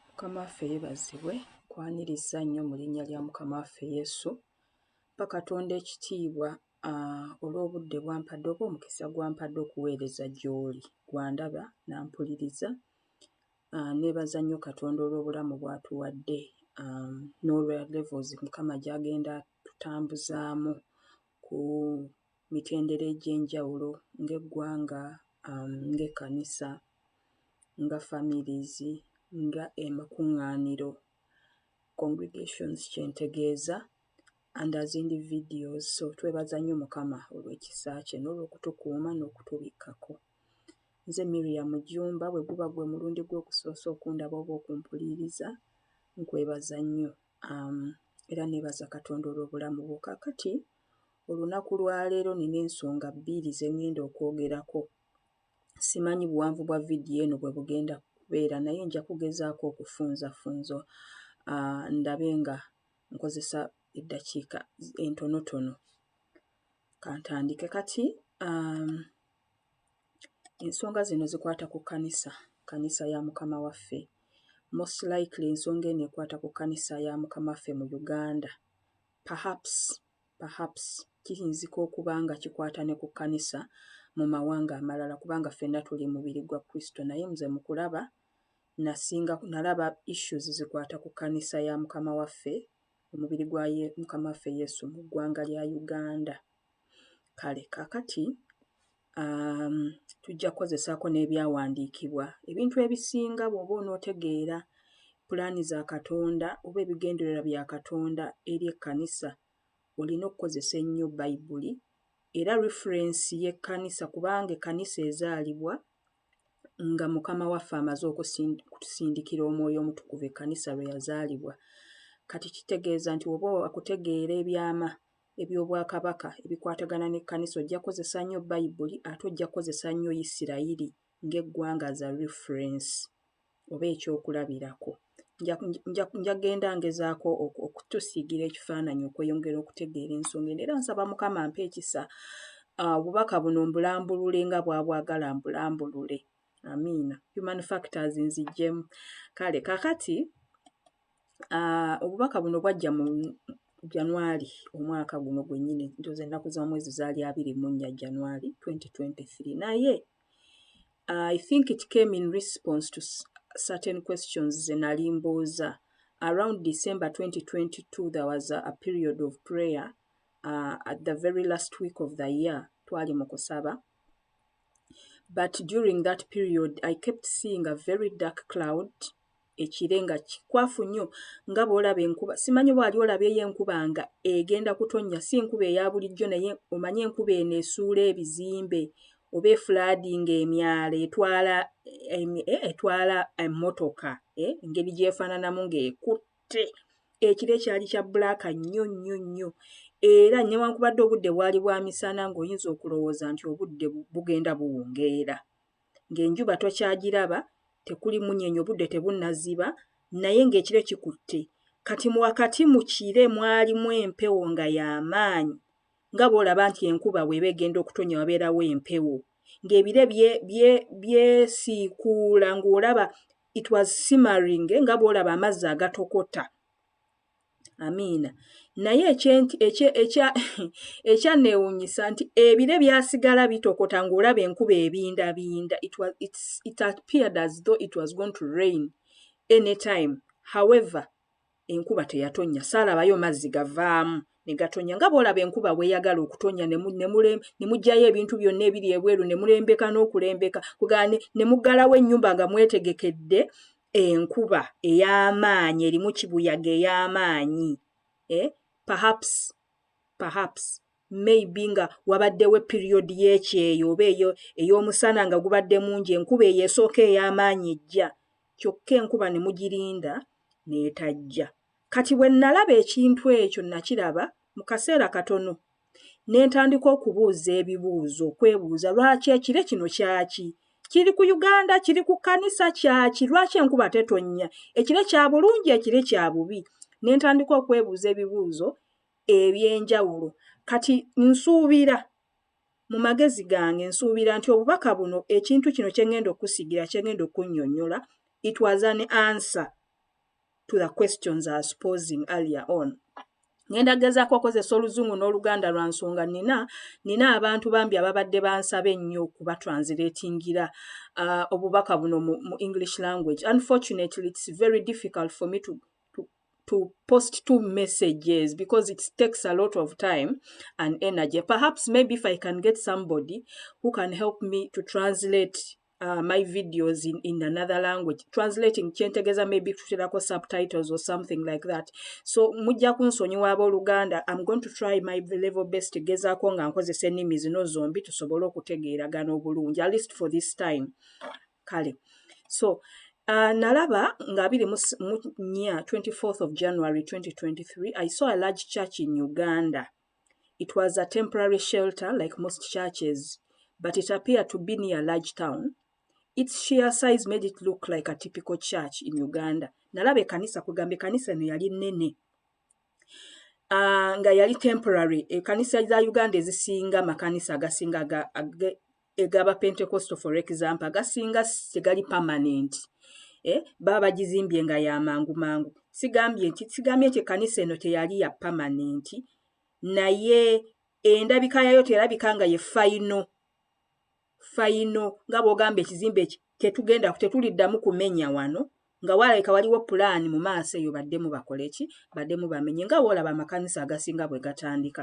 mukama waffe yebazibwe kwaniriza nnyo mu linnya lya mukama waffe yesu mpa katonda ekitiibwa olw'obudde bwampadde oba omukisa gwampadde okuweereza gy'oli gwandaba nampuliriza nebaza nnyo katonda olw'obulamu bwatuwadde n'olwa levels mukama gyagenda tutambuzaamu ku mitendera egy'enjawulo ng'eggwanga, ng'ekkanisa, nga families, nga amakuŋŋaaniro, congregations kye ntegeeza, and as individuals. So twebaza nnyo Mukama olw'ekisa kye n'olw'okutukuuma n'okutubikkako. Nze Miriam Jjumba, bwe guba gwe mulundi gwo ogusoosa okundaba oba okumpuliiriza, nkwebaza nnyo. um, era nebaza katonda olw'obulamu bwo kakati olunaku lwaleero nina ensonga bbiiri zengenda okwogerako simanyi buwanvu bwa vidiyo eno bwe bugenda kubeera naye nja kugezaako okufunzafunzo uh, ndabe nga nkozesa eddakiika entonotono kantandike kati um, Ensonga zino zikwata ku kkanisa, kkanisa ya Mukama waffe. Most likely ensonga eno ekwata ku kkanisa ya Mukama waffe mu Uganda. Perhaps, perhaps kiyinzika okuba nga kikwata ne ku kkanisa mu mawanga amalala kubanga ffenna tuli mubiri gwa Kristo naye nze mu kulaba nasinga nalaba issues zikwata ku kkanisa ya Mukama waffe omubiri gwa Mukama waffe Yesu mu ggwanga lya Uganda. Kale kaakati um, tujja kukozesaako n'ebyawandiikibwa ebintu ebisinga bw'oba onootegeera pulaani za Katonda oba ebigendererwa bya Katonda eri ekkanisa olina okukozesa ennyo Bayibuli era referensi y'ekkanisa kubanga ekkanisa ezaalibwa nga Mukama waffe amaze okutusindikira omwoyo omutukuvu ekkanisa lwe yazaalibwa. Kati kitegeeza nti oba akutegeera ebyama eby'Obwakabaka ebikwatagana n'ekkanisa ojja kukozesa nnyo Bayibuli ate ojja kukozesa nnyo Yisirayiri ng'eggwanga as a reference oba ekyokulabirako. Nja genda ngezaako okutusiigira ekifaananyi okweyongera okutegeera ensonga eno era nsaba Mukama ampe ekisa ah, obubaka buno mbulambulule nga bwabwagala mbulambulule. Amiina. Human factors nzijjemu. Kale kakati Ah, obubaka buno bwajja mu January omwaka guno gwennyini, ntoza ennaku z'omwezi zaali abiri mu nnya January 2023 naye I think it came in response to certain questions ze nali mbuuza around December 2022 there was a, a period of prayer uh, at the very last week of the year twali mu kusaba but during that period I kept seeing a very dark cloud ekire nga kikwafu nnyo nga bw'olaba enkuba simanyi oba wali olabyeyo enkuba nga egenda kutonnya si nkuba eya bulijjo naye omanyi enkuba eno esuula ebizimbe oba efulaadinga emyala etwala eh, etwala emmotoka eh, engeri gyefaananamu ng'ekutte ekiro ekyali kya bbulaaka nnyo nnyo nnyo era newankubadde obudde bwali bwa misana ng'oyinza okulowooza nti obudde bugenda buwungeera ng'enjuba tokyagiraba, tekuli munyenye, obudde tebunnaziba, naye ng'ekire kikutte. Kati mu wakati mu kire mwalimu empewo nga ya maanyi, nga bw'olaba nti enkuba bw'eba egenda okutonnya wabeerawo empewo, ng'ebire byesiikuula ng'olaba it was simmering nga bw'olaba amazzi agatokota. amiina naye ekyanneewuunyisa nti ebire byasigala bitokota ng'olaba enkuba ebindabinda it appeared as though it was going to rain any time however enkuba teyatonnya saalabayo mazzi gavaamu ne gatonya nga bw'olaba enkuba bweyagala okutonya ne mugyayo ebintu byonna ebiri ebweru ne mulembeka n'okulembeka kugane ne muggalawo ennyumba nga mwetegekedde enkuba ey'amaanyi erimu kibuyaga ey'amaanyi eh perhaps perhaps maybe nga wabaddewo period y'ekyeyo oba eyo ey'omusana nga gubadde mungi enkuba eyo esooka ey'amaanyi ejja kyokka enkuba ne mugirinda n'etajja kati bwe nalaba ekintu ekyo nakiraba mu kaseera katono ne ntandika okubuuza ebibuuzo okwebuuza lwaki ekire kino kyaki kiri ku uganda kiri ku kanisa kyaki lwaki enkuba tetonnya ekire kya bulungi ekire kya bubi ne ntandika okwebuuza ebibuuzo eby'enjawulo kati nsuubira mu magezi gange nsuubira nti obubaka buno ekintu kino kye ŋŋenda okusigira kye ŋŋenda okunnyonnyola it was an answer to the questions I was posing earlier on. Ngenda gezaako okozesa oluzungu n'oluganda lwa nsonga nina nina abantu bambi ababadde bansaba ennyo okuba translatingira uh, obubaka buno mu, mu english language unfortunately it's very difficult for me to to post two messages because it takes a lot of time and energy. Perhaps maybe if I can get somebody who can help me to translate uh, my videos in, in another language translating kyentegeza maybe tuterako subtitles or something like that so mujja kunsonyiwa abooluganda am going to try my level best gezaako nga nkozesa ennimi zino zombi tusobole okutegeeragana obulungi at least for this time kale so uh, nalaba nga abiri mu nya 24th of january 2023 i saw a large church in uganda It was a temporary shelter like most churches, but it appeared to be near large town. Its sheer size made it look like a typical church in Uganda. Nalaba ekanisa kugamba ekanisa eno yali nene. Uh, nga yali temporary ekanisa za Uganda ezisinga makanisa agasinga egaba pentecostal for example gasinga tegali permanent eh, baba bagizimbye nga yamangu mangu sigambye nti sigambye nti ekanisa eno teyali ya permanent naye endabika yayo terabika nga ye fayino fayino nga bwogamba ekizimbe eki tetugenda tetuliddamu kumenya wano nga walabika waliwo pulaani mu maaso eyo baddemu bakoleki baddemu bamenye nga woolaba amakanisa agasinga bwe gatandika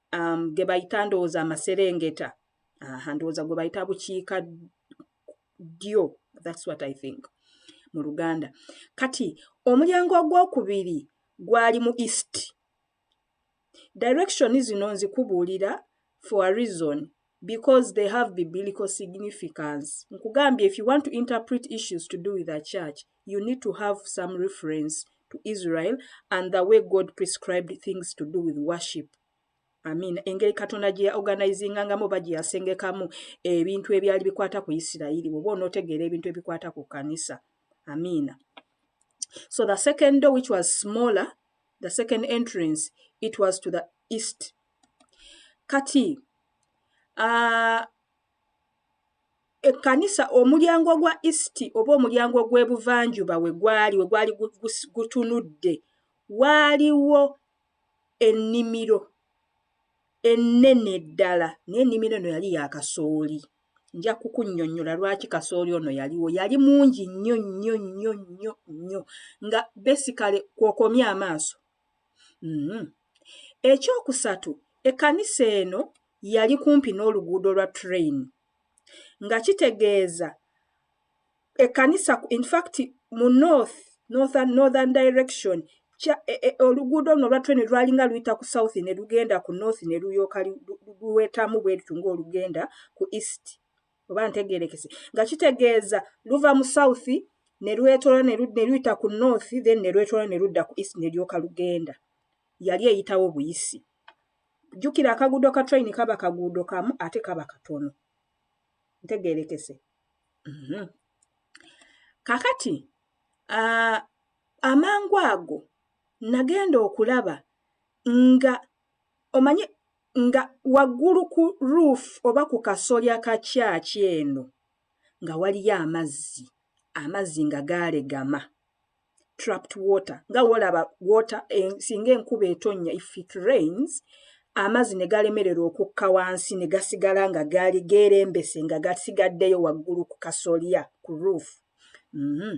um, gebayita ndowooza amaserengeta aha ndowooza gwe bayita bukiika ddyo thats what i think mu luganda kati omulyango ogwokubiri gwali mu east direction zino nzikubuulira for a reason because they have biblical significance nkugambye if you want to interpret issues to do with a church you need to have some reference to israel and the way god prescribed things to do with worship amin engeri katonda gye yaorganizingangamu oba gye yasengekamu ebintu ebyali bikwata ku isirayiri oba onootegeera ebintu ebikwata ku kanisa amiina so the second door which was smaller the second entrance it was to the east kati ekkanisa omulyango gwa isti oba omulyango gw'ebuvanjuba we gwali we gwali gutunudde waaliwo ennimiro ennene ddala naye ennimiro eno yali ya kasooli nja kukunnyonnyola lwaki kasooli ono yaliwo yali mungi nnyo nnyo nnyo nnyo nnyo nga besikale kwokomya amaaso Mm-hmm. Ekyokusatu, ekkanisa eno yali kumpi n'oluguudo lwa train nga kitegeeza ekkanisa infact mu north northern, northern direction kya e, e, oluguudo luno olwa train lwalinga luyita ku south ne lugenda ku north ne luyooka luwetamu bweritu ngaolugenda ku east oba ntegerekese nga kitegeeza luva mu south ne lwetola ne luyita ku north then ne lwetola ne ludda ku east ne lyoka lugenda yali eyitawo buyisi jjukira akaguudo ka train kaba kaguudo kamu ate kaba katono ntegerekese mhm. kakati amangu ago nagenda okulaba nga omanyi Nga waggulu ku roof oba ku kasolya ka church eno nga waliyo amazzi, amazzi nga gaalegama, trapped water, nga wolaba water singa enkuba etonnya, if it rains, amazzi ne galemererwa okukka wansi ne gasigala nga gaali geerembese nga gasigaddeyo waggulu ku kasolya, ku roof. Uhmm.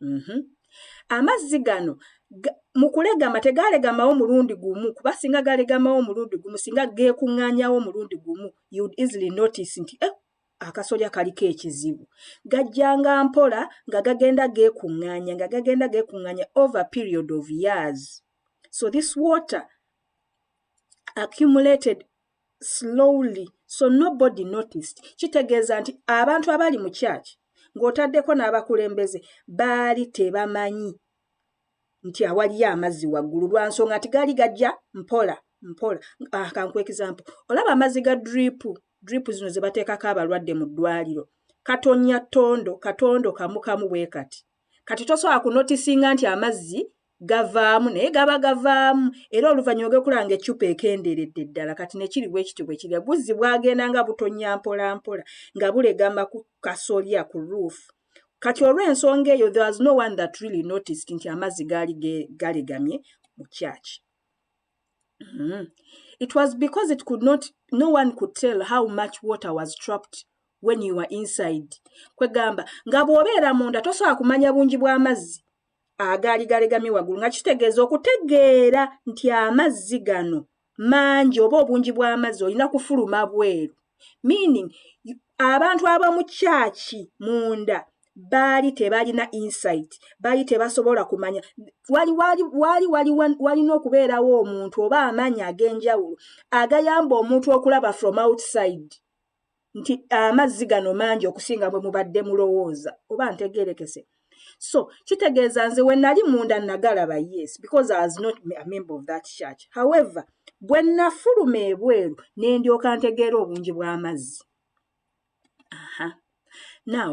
mhm. amazzi gano mu kulegama tegalegamawo mulundi gumu kuba singa galegamawo omulundi gumu singa geekuŋŋaanyawo omulundi gumu youd easily notice nti eh, akasolya kaliko ekizibu gajjanga mpola nga gagenda geekuŋŋaanya nga gagenda geekuŋŋaanya over period of years so this water accumulated slowly so nobody noticed kitegeeza nti abantu abaali mu church ng'otaddeko n'abakulembeze baali tebamanyi nti awaliyo amazzi waggulu lwa nsonga nti gaali gajja mpola mpola ah, kankuwa example olaba amazzi ga drip drip zino ze bateekako abalwadde mu ddwaliro katonya tondo katondo kamukamu bwe kati kati tosobola kunotisinga nti amazzi gavaamu naye gaba gavaamu era oluvannyuma gekulaba nga eccupa ekenderedde ddala kati nekiri bwe kiti bwe kirya guzzi bwagenda nga butonnya mpola mpola nga bulegama ku kasolya ku ruufu kati olw'ensonga eyo there was no one that really noticed nti amazzi gaali galegamye mu kyaki mm-hmm. it was because it could not no one could tell how much water was trapped when you were inside kwegamba nga bw'obeera munda tosobola kumanya bungi bw'amazzi agaali galegamye waggulu nga kitegeeza okutegeera nti amazzi gano mangi oba obungi bw'amazzi olina kufuluma bweru meaning abantu abamu kyaki munda baali tebalina insight baali tebasobola kumanya wali wali wali wali walina okubeerawo omuntu oba amaanyi ag'enjawulo agayamba omuntu okulaba from outside nti amazzi gano mangi okusinga bwe mubadde mulowooza oba ntegerekese so kitegeeza nze we nali munda nagalaba yes because i was not a member of that church however bwe nafuluma ebweru ne ndyoka ntegeera obungi bw'amazzi now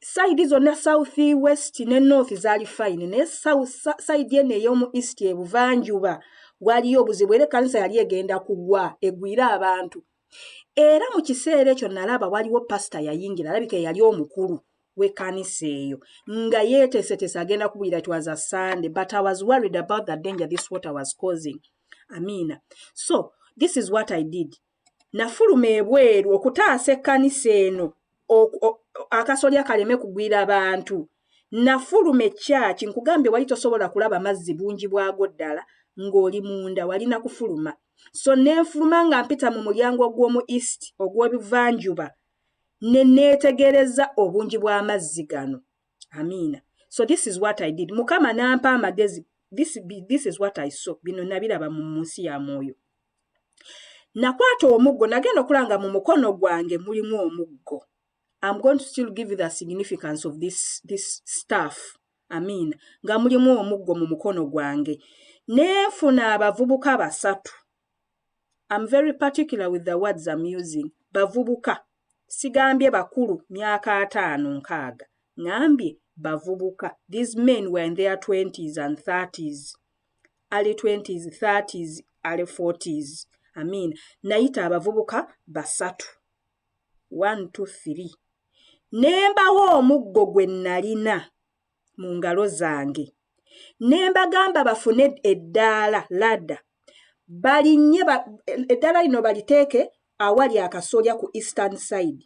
sayidi zonna south west ne north zaali fine naye sayidi eno ey'omu east ebuvanjuba waliyo obuzibu era ekkanisa yali egenda kugwa egwire abantu era mu kiseera ekyo nalaba waliwo pasita yayingira alabika eyali omukulu w'ekkanisa eyo nga yeeteeseteese agenda kubwira it was a sunday but i was worried about the danger this water was causing amiina so this is what i did Nafuluma ebweru okutaasa ekkanisa eno akasolya kaleme kugwira bantu. Nafuluma ekkyaki, nkugambye wali tosobola kulaba mazzi bungi bwago ddala ng'oli munda, wali na kufuluma. So ne nfuluma nga mpita mu mulyango ogw'omu East, ogw'ebuvanjuba, ne neetegereza obungi bw'amazzi gano. Amiina. So this is what I did. Mukama n'ampa amagezi. This, this is what I saw. Bino nabiraba mu nsi ya mwoyo. nakwata omuggo nagenda okulanga mu mukono gwange mulimu omuggo am going to still give the significance of this, this staff amiina nga mulimu omuggo mu mukono gwange nenfuna abavubuka basatu am very particular with the words am using bavubuka sigambye bakulu myaka ataano nkaaga ngambye bavubuka these men were in their twenties and thirties early 20s 30s early 40s i mean nayita abavubuka basatu 123 nembawo omuggo gwe nalina mu ngalo zange ne mbagamba bafune eddaala ladda balinnye eddaala lino baliteeke awali akasolya ku eastern side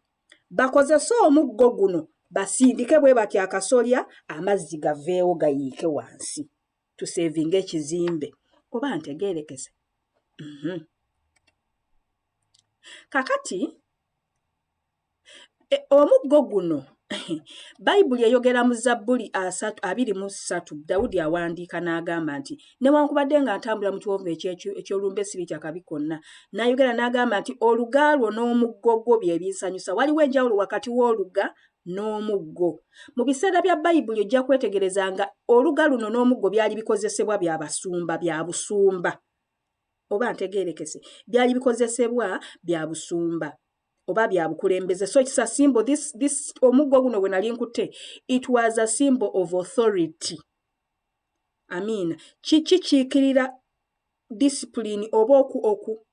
bakozese omuggo guno basindike bwe batya akasolya amazzi gaveewo gayiike wansi to savinga ekizimbe oba ntegeerekese mhm. kakati e, omuggo guno bayibuli eyogera mu zabbuli abiri mu ssatu dawudi awandiika n'agamba nti newankubadde nga ntambula mu kiwonvu eky'olumbe sibitya kabi konna n'ayogera n'agamba nti oluga lwo n'omuggo gwo bye binsanyusa waliwo enjawulo wakati w'oluga n'omuggo. Mu biseera bya Bayibuli ojja kwetegereza nga oluga luno n'omuggo byali bikozesebwa bya basumba bya busumba. Oba ntegeerekese byali bikozesebwa bya busumba oba bya bukulembeze so kisa simbo this, this omuggo guno bwe nali nkutte it was a symbol of authority amiina kikikiikirira discipline oba oku oku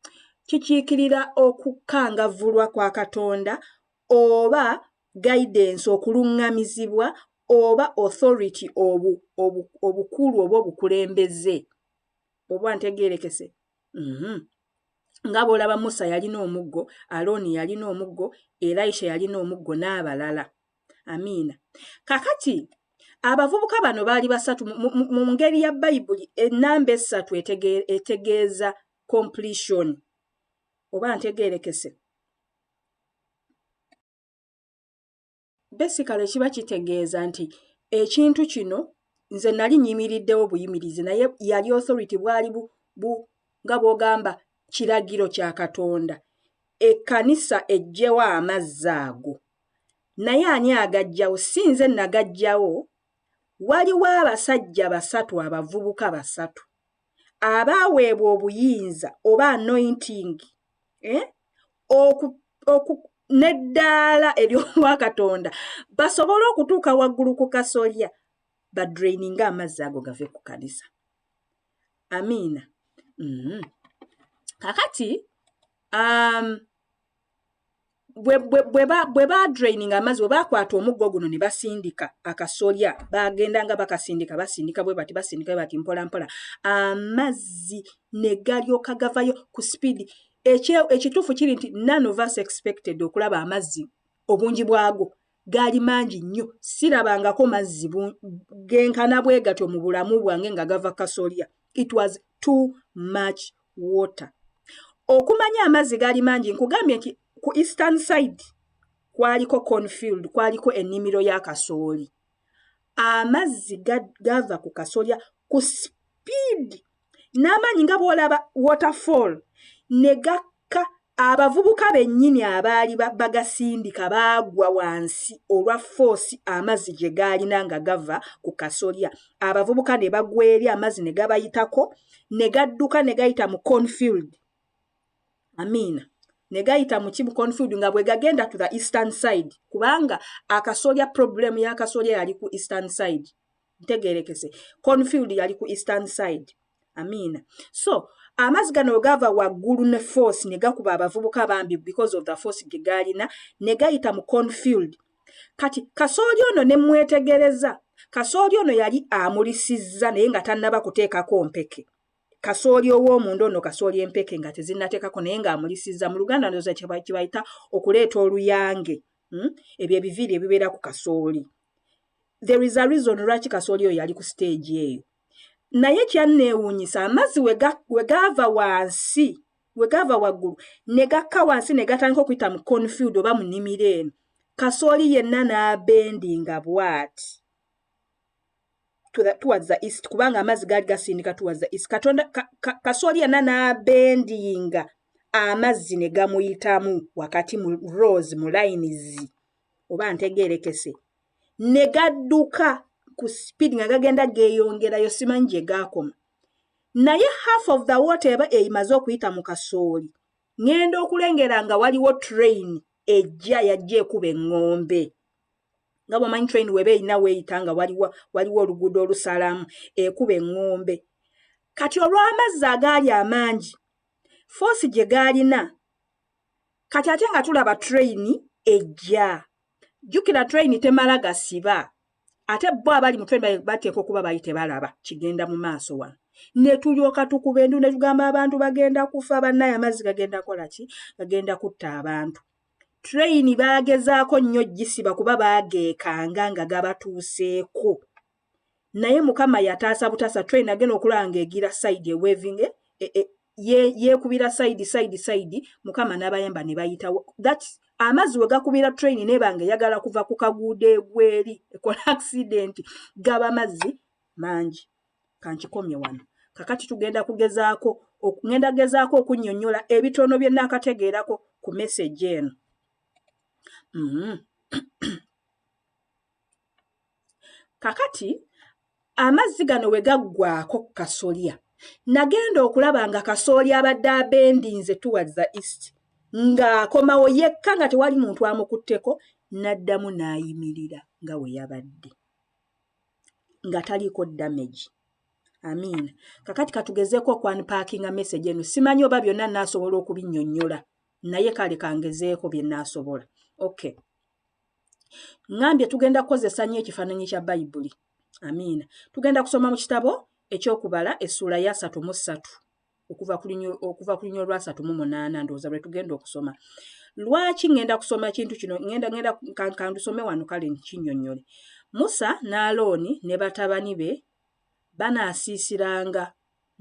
kikiikirira okukangavvulwa kwa katonda oba guidance okulungamizibwa oba authority obu obukulu oba obukulembeze oba ntegerekese mm -hmm. nga bwolaba musa yalina omuggo alooni yalina omuggo elisha yalina omuggo n'abalala amiina kakati abavubuka bano baali basatu mu ngeri ya bayibuli enamba essatu etegeeza completion oba ntegerekese besikale kiba kitegeeza nti ekintu kino nze nali nyimiriddewo buyimirizi naye yali authority bwali bu, bu nga bwogamba kiragiro kya katonda ekkanisa ejjewo amazzi ago naye ani agajjawo si nze nagajjawo waliwo abasajja basatu abavubuka basatu abaaweebwa obuyinza oba anointing eh? neddaala ery'obwakatonda basobole okutuuka waggulu ku kasolya badraininga amazzi ago gave ku kanisa amiina mm-hmm. kakati um, bwe badraininga amazzi bwe bakwata omuggo guno ne basindika akasolya bagenda nga bakasindika basindika bwe bati basindika bwe bati mpola mpola amazzi ne galyoka gavayo ku sipiidi ekituufu kiri nti none of us expected okulaba amazzi obungi bwago gaali mangi nnyo sirabangako mazzi genkana bwe gatyo mu bulamu bwange nga gava kasolya it was too much water okumanya amazzi gaali mangi nkugambye nti ku eastern side kwaliko confield kwaliko ennimiro ya kasooli amazzi gava ku kasolya ku speed n'amaanyi nga bw'olaba waterfall ne gakka abavubuka bennyini abaali bagasindika baagwa wansi olwa foosi amazzi gye gaalina nga gava ku kasolya abavubuka ne bagwa eri amazzi ne gabayitako ne gadduka ne gayita mu confield amiina ne gayita mu kimu confield nga bwe gagenda to the eastern side kubanga akasolya problemu y'akasolya yali ku eastern side ntegerekese confield yali ku eastern side amiina so amazzi gano wegava waggulu ne force ne gakuba abavubuka bambi because of the force ge gaalina ne gayita mu confield kati kasooli ono ne mwetegereza kasooli ono yali amulisizza naye nga tannaba kuteekako mpeke kasooli ow'omunda ono kasooli empeke nga tezinnateekako naye ng'amulisizza mu luganda ndoza kyebayita okuleeta oluyange hmm? ebyo ebiviiri ebibeera ku kasooli there is a reason lwaki kasooli oyo yali ku stage eyo naye kyanneewuunyisa amazzi we gaava wansi we gaava waggulu ne gakka wansi ne gatandika okuyita mu confield oba mu nnimiro eno kasooli yenna n'abendi nga bwati towards the east kubanga amazzi gaali gasindika towards the east katonda kasooli yenna n'abendinga amazzi ne gamuyitamu wakati mu rose mu layinizi oba ntegeerekese ne gadduka ku speed nga gagenda geeyongerayo simanyi gye gaakoma naye half of the water eba eyimaze okuyita mu kasooli ŋŋenda okulengera nga waliwo train ejja yajja ekuba eŋŋombe nga bwomanyi train weba erina weeyita nga waliwo waliwo oluguudo olusalamu ekuba eŋŋombe kati olw'amazzi agaali amaangi foosi gye gaalina kati ate nga tulaba train ejja jjukira train temala gasiba ate bo abali mu train bateekwa okuba bali tebalaba kigenda mu maaso wano ne tulyoka tukuba endu ne tugamba abantu bagenda kufa bannaye amazzi gagenda kola ki gagenda kutta abantu train baagezaako nnyo gisiba kuba baageekanga nga gabatuuseeko naye mukama yataasa butaasa train agenda okulaba nga egira side ewaving e, e, e, yeekubira side side side mukama n'abayamba ne bayitawo that amazzi we gakubira train nebanga eyagala kuva ku kaguudo egweri ekola accident gaba mazzi mangi kankikomye wano kakati tugenda kugezaako ngenda gezaako okunnyonnyola ebitono bye naakategeerako ku message eno mm -hmm. kakati amazzi gano we gaggwaako ku kasolya nagenda okulaba nga kasooli abadde abendinze tuwaza east ng'akomawo yekka nga tewali muntu amukutteko n'addamu n'ayimirira nga we yabadde nga taliiko damage amiina kakati katugezeeko okwanipaakinga message eno simanyi oba byonna naasobola okubinnyonnyola naye kale kangezeeko bye naasobola okay ŋambye tugenda kukozesa nnyo ekifaananyi kya bayibuli amiina tugenda kusoma mu kitabo ekyokubala essuula ya satu mu ssatu okuva ku lunya olwasatu mu munaana ndowooza lwe tugenda okusoma lwaki ŋŋenda kusoma ekintu kino ŋenda ŋenda kandusome wano kale nkinyonnyole musa n'alooni ne batabani be banaasiisiranga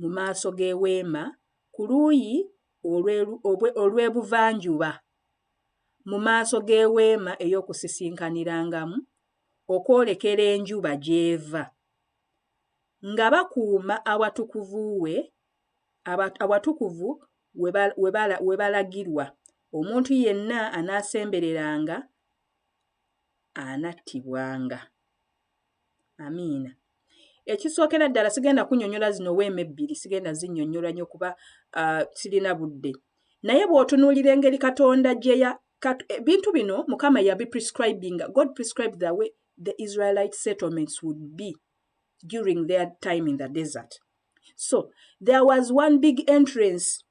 mu maaso g'eweema ku luuyi olw'ebuvanjuba mu maaso g'Eweema ey'Okusisinkanirangamu, okwolekera enjuba gy'eva, nga bakuuma Awatukuvu We, Awatukuvu we balagirwa, omuntu yenna anaasembereranga anattibwanga. amiina ekisookera ddala sigenda kunyonyola zino weema ebbiri sigenda zinyonyola nyo kuba uh, sirina budde naye bw'otunuulira engeri katonda gyeya ebintu eh, bino mukama yabi prescribinga god prescribe the way the israelite settlements would be during their time in the desert so there was one big entrance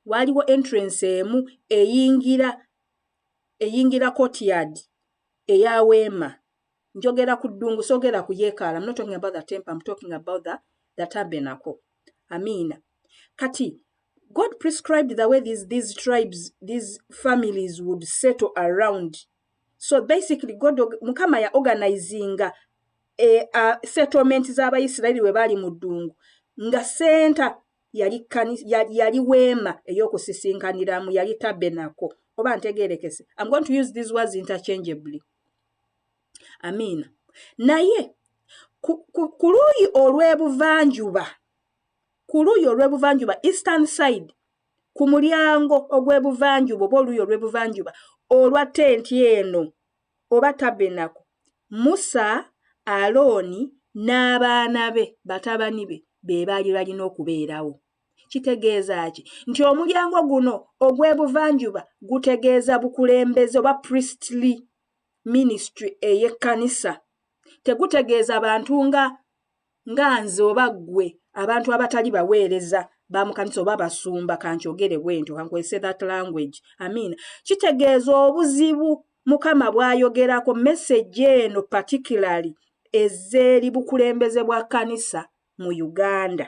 waaliwo entrance emu eyingira eyingira courtyard eya weema njogera ku ddungu soogera ku yeekaala not talking about the temple I'm talking about the, the tabernacle amiina kati God prescribed the way these, these tribes these families would settle around so basically God mukama ya organizinga e, uh, settlement z'abayisirayiri we baali mu ddungu nga senta yali kani- yali, yali weema ey'okusisinkaniramu yali tabenako oba ntegeerekese am going to use these words interchangeably amiina naye ku, ku, ku luuyi olw'ebuvanjuba ku luuyi olw'ebuvanjuba eastern side ku mulyango ogw'ebuvanjuba oba oluuyi olw'ebuvanjuba olwa tenti eno oba tabbenaku, Musa, Alooni, n'abaana be, batabani be, be baali balina okubeerawo. Kitegeeza ki? Nti omulyango guno ogw'ebuvanjuba gutegeeza bukulembeze oba priestly ministry ey'ekkanisa. Tegutegeeza bantu nga nga nze oba ggwe abantu abatali baweereza ba mu kanisa oba basumba kankyogere bwentyo kankwese that language amiina kitegeeza obuzibu mukama bw'ayogerako meseji eno particularly ezeeri bukulembeze bwa kanisa mu uganda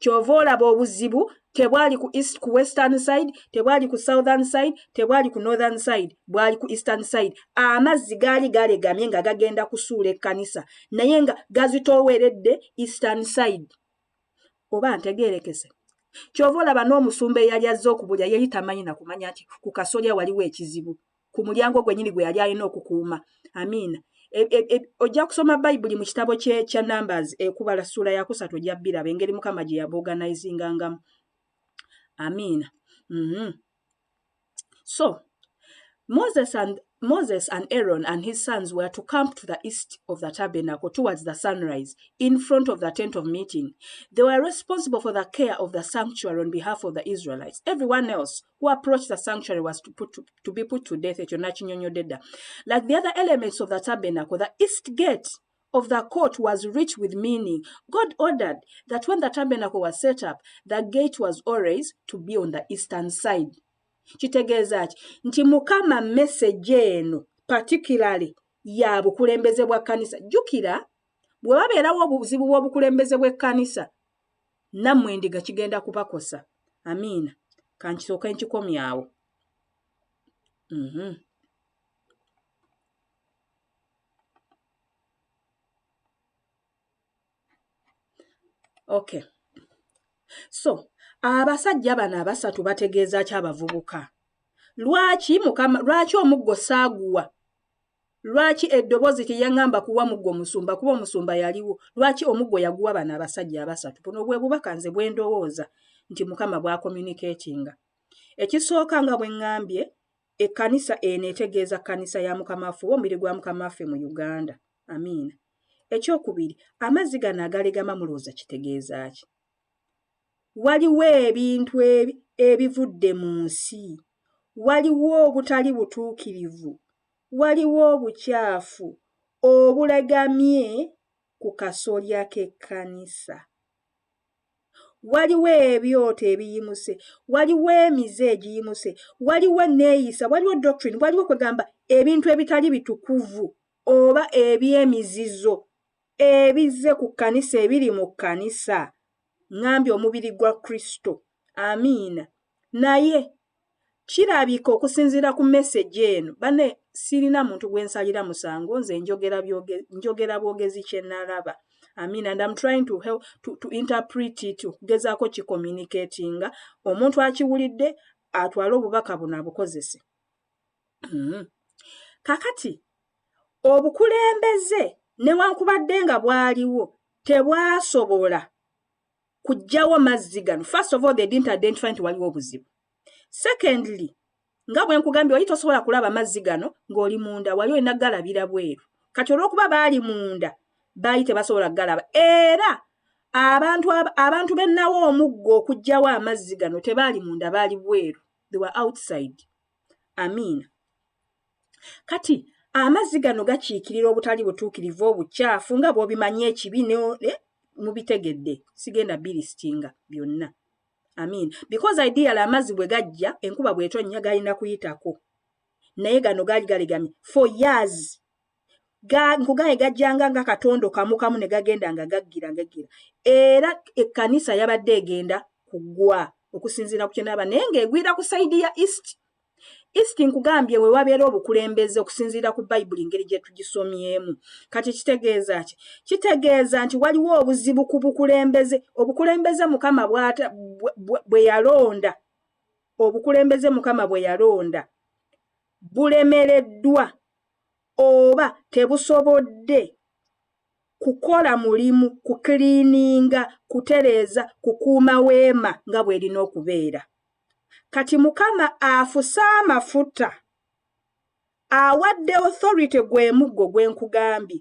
kyova olaba obuzibu tebwali ku east ku western side tebwali ku southern side tebwali ku northern side bwali ku eastern side amazzi gaali galegamye nga gagenda kusuula ekkanisa naye nga gazitooweredde eastern side oba ntegeerekese kyova olaba n'omusumba eyali azze okubulya yali tamanyi nakumanya nti ku kasolya waliwo ekizibu ku mulyango gwenyini gwe yali alina okukuuma amiina e, e, e, ojja kusoma bayibuli mu kitabo kya numbers ekubala ssuula yakusatu ojja biraba engeri mukama gye yaboganizingangamu amiina mm -hmm. so moses and Moses and Aaron and his sons were to camp to the east of the tabernacle towards the sunrise in front of the tent of meeting. They were responsible for the care of the sanctuary on behalf of the Israelites. Everyone else who approached the sanctuary was to, put to, to be put to death ekyo nakinyonyodde dda like the other elements of the tabernacle the east gate of the court was rich with meaning god ordered that when the tabernacle was set up the gate was always to be on the eastern side kitegeeza ki nti mukama message eno particularly ya bukulembeze bwa kkanisa jjukira bwe babeerawo obuzibu bw'obukulembeze bw'ekkanisa nammwe endiga kigenda kubakosa amiina kankisooka enkikomyawo mm -hmm. okay so abasajja bano abasatu bategeeza ki abavubuka lwaki mukama lwaki omuggo saaguwa Lwaki eddobozi teyangamba kuwa muggo musumba kuba omusumba yaliwo lwaki omuggo yaguwa bano abasajja abasatu buno bwe bubaka nze bwe ndowooza nti mukama bwa communicatinga ekisooka nga bwe ngambye ekkanisa eno etegeeza kkanisa ya mukama waffe oba omubiri gwa mukama waffe mu uganda amiina ekyokubiri amazzi gano agalegama mulowooza kitegeeza ki waliwo ebintu ebivudde mu nsi, waliwo obutali butuukirivu, waliwo obukyafu obulagamye ku kasolya k'ekkanisa. Waliwo ebyoto ebiyimuse, waliwo emize egiyimuse, waliwo enneeyisa, waliwo doctrine, waliwo kwegamba ebintu ebitali bitukuvu oba eby'emizizo Ebizze ku kkanisa, ebiri mu kkanisa, ŋŋambye omubiri gwa Kristo. Amiina. Naye, kirabika okusinziira ku mesegi eno, banne, ssirina muntu gwe nsalira musango, nze njogera byoge, njogera bwogezi kye nnalaba. Amiina. And I'm trying to help, to, to interpret it, okugezaako kikomunikeetinga, omuntu akiwulidde, atwale obubaka buno abukozese. mm-hmm. kakati obukulembeze newankubadde nga bwaliwo tebwasobola kujjawo mazzi gano first of all they didn't identify nti waliwo obuzibu secondly nga bwe nkugambye wali tosobola kulaba mazzi gano ng'oli munda wali olina galabira bweru kati olw'okuba baali munda baali tebasobola kugalaba era abantu abantu bennawo omuggo okugyawo amazzi gano tebaali munda baali bweru they were outside amiina kati amazzi gano gakiikirira obutali butuukirivu obukyafu nga bw'obimanyi ekibi eh, mubitegedde sigenda birisitinga byonna amiina because ideal amazzi bwe gajja enkuba bw'etonnya galina kuyitako naye gano gaali galegamye for years nkugaye gajjanga nga katondo kamu kamu ne gagenda nga gaggira gaggira era ekkanisa yabadde egenda kugwa okusinziira ku kyenaaba naye ng'egwira ku sayidi ya east east nkugambye we wabeera obukulembeze okusinziira ku bayibuli ngeri gye tugisomyemu kati kitegeeza ki kitegeeza nti waliwo obuzibu ku bukulembeze obukulembeze mukama bwe yalonda obukulembeze mukama bwe yalonda bulemereddwa oba tebusobodde kukola mulimu kukiliininga, kutereeza, kukuuma weema nga bw'erina okubeera. Kati Mukama afuse amafuta awadde Authority gwe muggo gwe nkugambye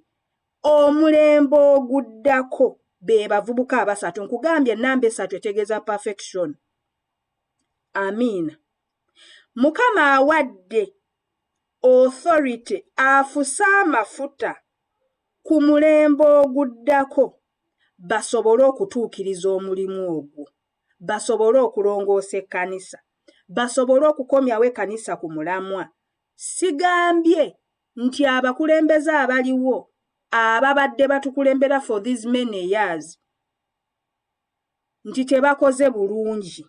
omulembe oguddako be bavubuka abasatu nkugambye ennamba esatu etegeeza perfection amiina mukama awadde Authority afuse amafuta ku mulembe oguddako basobole okutuukiriza omulimu ogwo, basobole okulongoosa ekkanisa, basobole okukomyawo ekkanisa ku mulamwa. Sigambye nti abakulembeze abaliwo ababadde batukulembera for these many years, nti tebakoze bulungi.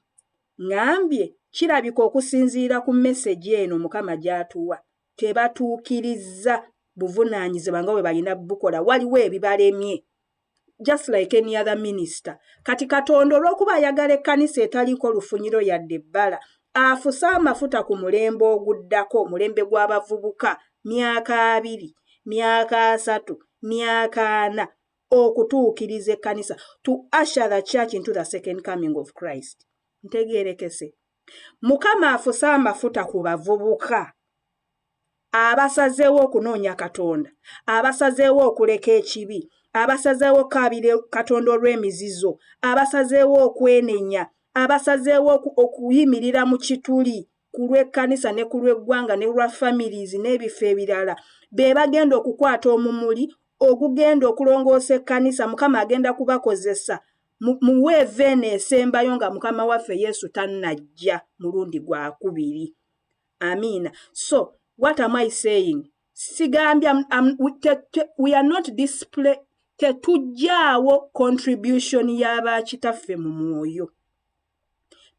Ngambye kirabika okusinziira ku mesegi eno Mukama gy'atuwa, tebatuukirizza buvunaanyizibwa nga bwe balina bukola, waliwo ebibalemye just like any other minister. Kati Katonda olw'okuba ayagala ekkanisa etaliiko lufunyiro yadde ebbala, afuse amafuta ku mulembe oguddako, omulembe gw'abavubuka, myaka abiri, myaka asatu, myaka ana, okutuukiriza ekkanisa to usher the church into the second coming of christ ntegeerekese mukama afuse amafuta ku bavubuka abasazeewo okunoonya katonda abasazeewo okuleka ekibi abasazeewo okukaabira katonda olw'emizizo abasazeewo okwenenya abasazeewo okuyimirira mu kituli ku lw'ekkanisa ne ku lw'eggwanga ne lwa families n'ebifo ebirala be bagenda okukwata omumuli ogugenda okulongoosa ekkanisa mukama agenda kubakozesa mu weeva eno esembayo nga mukama waffe yesu tannajja mulundi gwakubiri amiina so what am i saying sigambye we are not display tetujjaawo contribution y'abakitaffe mu mwoyo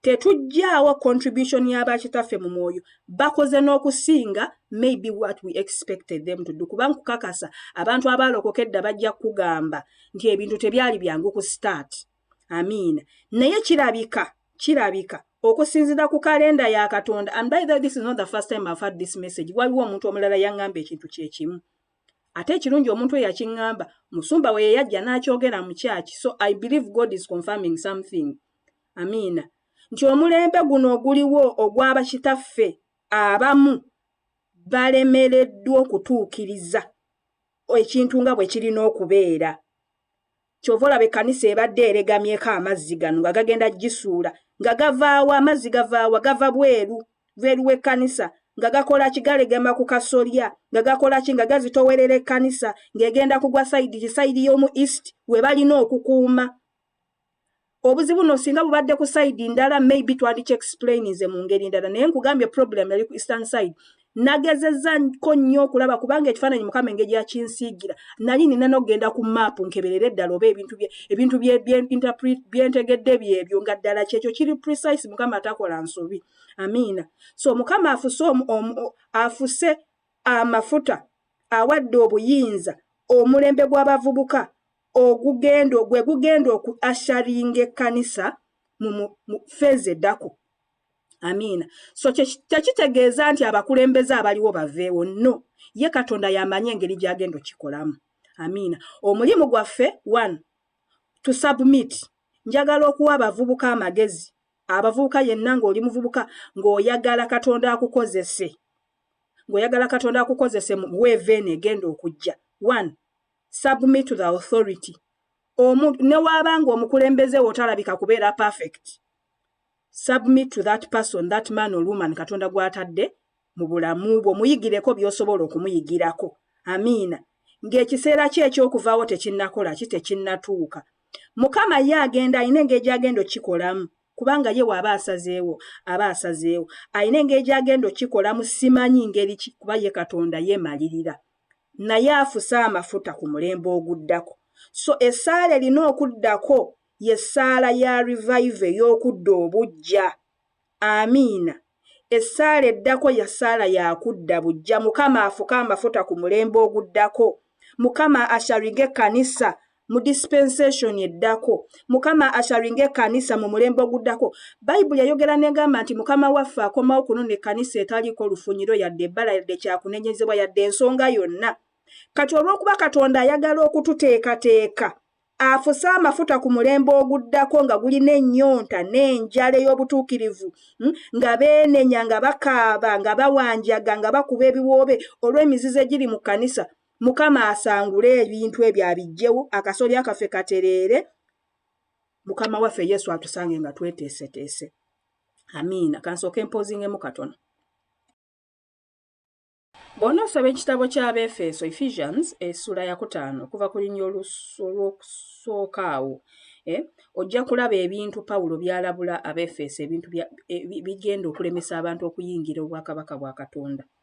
tetujjaawo contribution y'abakitaffe mu mwoyo bakoze n'okusinga maybe what we expected them to do kuba nkukakasa abantu abaalokoka edda bajja kukugamba nti ebintu tebyali byangu ku start amiina naye kirabika kirabika okusinzira ku kalenda ya katonda and by the way this is not the first time i've had this message waliwo omuntu omulala yaŋŋamba ekintu kye kimu ate ekirungi omuntu eyakiŋŋamba musumba we yeyajja n'akyogera mu kyaki so i believe god is confirming something amiina nti omulembe guno oguliwo ogwaba kitaffe abamu balemereddwa okutuukiriza ekintu nga bwe kirina okubeera kyova olaba ekkanisa ebadde eregamyeko amazzi gano nga gagenda gisuula nga gavaawa amazzi gavaawa gava bweru bweru w'ekkanisa nga gakola ki galegema ku kasolya nga gakola ki nga gazitowerera ekkanisa ng'egenda kugwa sayidi ki sayidi y'omu east we balina okukuuma obuzibu no singa bubadde ku side ndala maybe twandiki explaininze mu ngeri ndala naye nkugambye problem yali ku eastern side nagezeza ko nnyo okulaba kubanga ekifaananyi mukama engeri yakinsiigira nali nina nokugenda ku maapu nkeberere eddala oba ebintu ebintu byentegedde byebyo nga ddala kyekyo kiri precise mukama atakola nsobi amiina so mukama afuse afuse amafuta awadde obuyinza omulembe gw'abavubuka ogugendo gwe gugenda oku asharinga ekkanisa mu feezi eddako amiina so tekitegeeza nti abakulembeze abaliwo baveewo no ye katonda yamanyi engeri gyagenda okikolamu amiina omulimu gwaffe one to submit njagala okuwa abavubuka amagezi abavubuka yenna ng'oli muvubuka ng'oyagala katonda akukozese ng'oyagala katonda akukozese mu weeveeni egenda okujja one submit to the authority omu newaaba nga omukulembeze wo talabika kubeera perfect submit to that person that man or woman katonda gwatadde mu bulamu bwo muyigireko by'osobola okumuyigirako amiina ng'ekiseera kye eky'okuvaawo tekinnakola ki tekinnatuuka mukama ye agenda alina engeri gy'agenda okukikolamu kubanga ye waaba asazeewo aba asazeewo alina engeri gy'agenda okukikolamu simanyi ngeri ki kuba ye katonda yeemalirira naye afuse amafuta ku mulembe oguddako so essaala erina okuddako ye ssaala ya revive ey'okudda obujja amiina essaala eddako ya ssaala yakudda bujja mukama afuke amafuta ku mulembe oguddako mukama ashariga ekkanisa mu dispensation eddako mukama asharinga ekanisa mu mulembe oguddako bayibuli yayogera negamba nti mukama waffe akomawo kunona ekanisa etaliiko lufunyiro yadde ebbala yadde kyakunenyezebwa yadde ensonga yonna kati olwokuba katonda ayagala okututeekateeka afuse amafuta ku mulembe oguddako nga gulina ennyonta n'enjala ey'obutuukirivu hmm, nga beenenya nga bakaaba nga bawanjaga nga bakuba ebiwoobe olw'emizizo egiri mu kkanisa Mukama asangule ebintu ebyo abijjewo akasolya kaffe katereere mukama waffe yesu atusange nga tweteeseteese amiina kansooka empozingemu katono bwona osaba ekitabo ky'abeefeeso ephesians essula yakutaano okuva ku linya olw'okusooka awo eh, ojja kulaba ebintu pawulo byalabula abeefeeso ebintu eh, bigenda okulemesa abantu okuyingira obwakabaka bwa katonda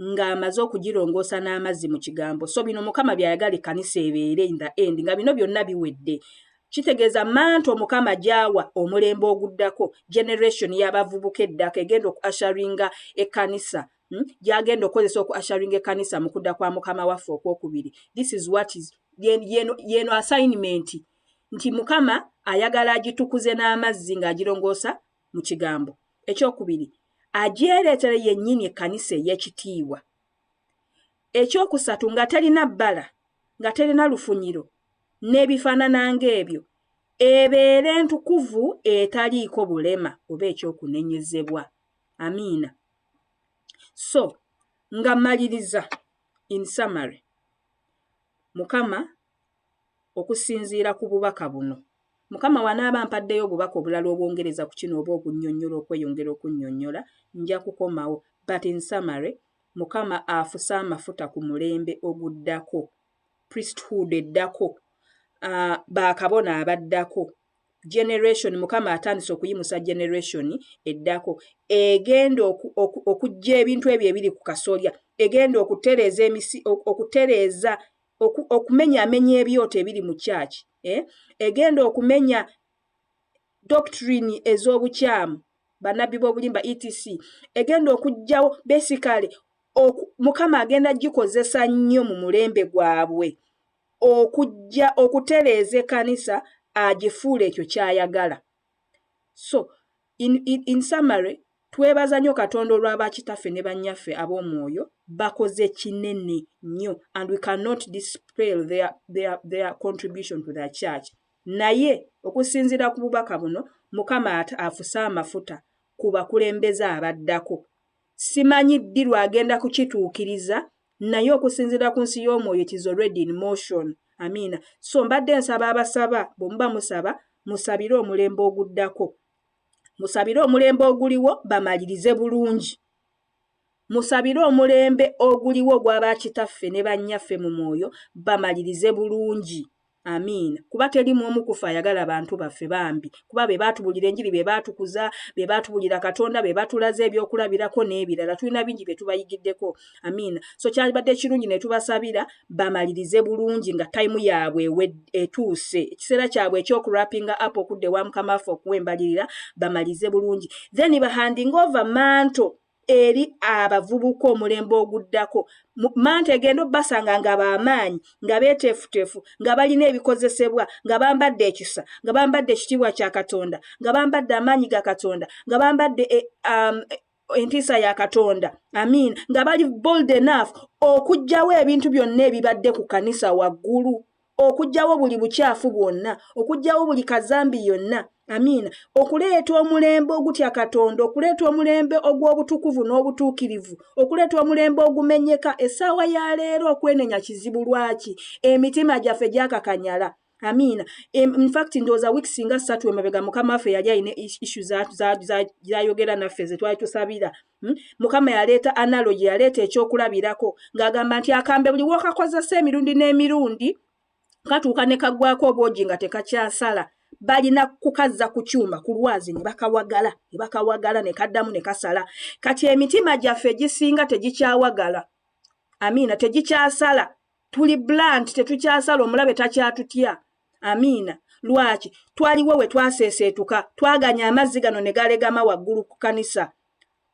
ng'amaze okugirongoosa n'amazzi mu kigambo. So bino Mukama by'ayagala ekkanisa ebeere in the end nga bino byonna biwedde. Kitegeeza manto Mukama gy'awa omulembe oguddako, generation y'abavubuka eddako egenda oku assuringa ekkanisa hmm, gy'agenda okukozesa oku assuringa ekkanisa mu kudda kwa Mukama waffe okwokubiri. This is what is y'eno assignment nti Mukama ayagala agitukuze n'amazzi ng'agirongoosa mu kigambo ekyokubiri agyereetere yennyini ekkanisa ey'ekitiibwa ekyokusatu nga terina bbala nga terina lufunyiro n'ebifaanana ng'ebyo ebeere ntukuvu etaliiko bulema oba ekyokunenyezebwa amiina so nga maliriza in summary mukama Okusinziira ku bubaka buno, Mukama wanaaba ampaddeyo obubaka obulala obwongereza ku kino oba obunyonyola okweyongera okunyonyola, nja kukomawo, but in summary, Mukama afuse amafuta ku mulembe oguddako, priesthood eddako, aah, ba kabona abaddako, generation, Mukama atandise okuyimusa generation eddako, egenda oku, oku, okujja ebintu ebyo ebiri ku kasolya, egenda okutereeza emisi, okutereeza oku, okumenya amenya ebyoto ebiri mu church eh? egenda okumenya doctrine ez'obukyamu banabbi b'obulimba etc egenda okugjawo basically mukama agenda gikozesa nnyo mu mulembe gwabwe okujja okutereeza ekanisa agifuula ekyo kyayagala So, in, in, in summary, twebaza nnyo Katonda olwa bakitaffe ne bannyaffe ab'omwoyo, bakoze kinene nnyo and we cannot dispel their, their, their contribution to the church. Naye okusinziira ku bubaka buno, Mukama ate afuse amafuta ku bakulembeze abaddako. Simanyi ddi lw'agenda kukituukiriza, naye okusinziira ku nsi y'omwoyo it is already in motion. Amiina. So mbadde nsaba abasaba, bwe muba musaba, musabire omulembe oguddako. Musabire omulembe oguliwo bamalirize bulungi. Musabire omulembe oguliwo ogwa bakitaffe ne bannyaffe mu mwoyo bamalirize bulungi. Amiina kuba teli mwomu kufe ayagala bantu baffe bambi kuba bebatubulira enjiri bebatukuza bebatubulira katonda bebatulaze ebyokulabirako nebirala tulina bingi byetubayigiddeko amiina so kyalibadde kirungi netubasabira bamalirize bulungi nga time yaabwe etuuse ekiseera kyabwe ekyokurapinga app okudda ewa mukama waffe okuwa embalirira bamalize bulungi then bahandinga ova manto eri abavubuka omulembe oguddako manta egenda obbasanga nga baamaanyi nga beeteefuteefu nga balina ebikozesebwa nga bambadde ekisa nga bambadde ekitiibwa kya katonda nga bambadde amaanyi ga katonda nga bambadde eh, um, entiisa ya katonda amin nga bali bold enough okugjawo ebintu byonna ebibadde ku kanisa waggulu okugyawo buli bukyafu bwonna okugyawo buli kazambi yonna amiina okuleeta omulembe ogutya katonda okuleeta omulembe ogw'obutukuvu n'obutuukirivu okuleeta omulembe ogumenyeka essaawa ya leero okwenenya kizibu lwaki emitima gyaffe gyakakanyala amiina infact ndowooza wiiki singa ssatu emabega mukama waffe yali alina issu zayogera naffe ze twali tusabira Hmm? mukama yaleeta analogi yaleeta ekyokulabirako ng'agamba nti akambe buli wokakozesa emirundi n'emirundi katuuka ne kaggwako obwogi nga tekakyasala balina kukazza ku kyuma ku lwazi ne bakawagala ne bakawagala ne kaddamu ne kasala kati emitima gyaffe egisinga tegikyawagala amiina tegikyasala tuli blunt tetukyasala omulabe takyatutya amiina lwaki twaliwo we twaseeseetuka twaganya amazzi gano ne galegama waggulu ku kanisa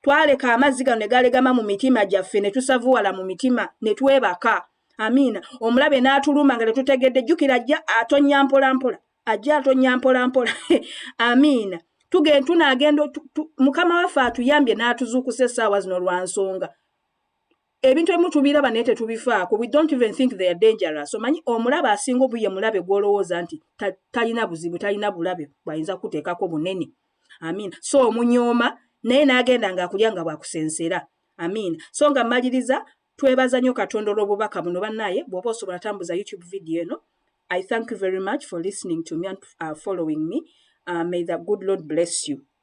twaleka amazzi gano ne galegama mu mitima gyaffe ne tusavuwala mu mitima ne twebaka amiina omulabe n'atuluma nga tetutegedde jjukira ajja atonya mpolampola ajja atonya mpolampola amiina tugenda tunaagenda mukama waffe atuyambye n'atuzuukusa essaawa zino lwa nsonga ebintu ebimu tubiraba naye tetubifaako we don't even think they are dangerous omanyi omulabe asinga obuye mulabe gwolowooza nti talina buzibu talina bulabe bwayinza kukuteekako bunene amin so omunyooma naye n'agenda ngaakulya nga bwakusensera amin so nga mmaliriza twebaza nnyo katonda olw'obubaka buno bannaaye bw'oba osobola tambuza youtube video eno i thank you very much for listening to me and uh, following me uh, may the good lord bless you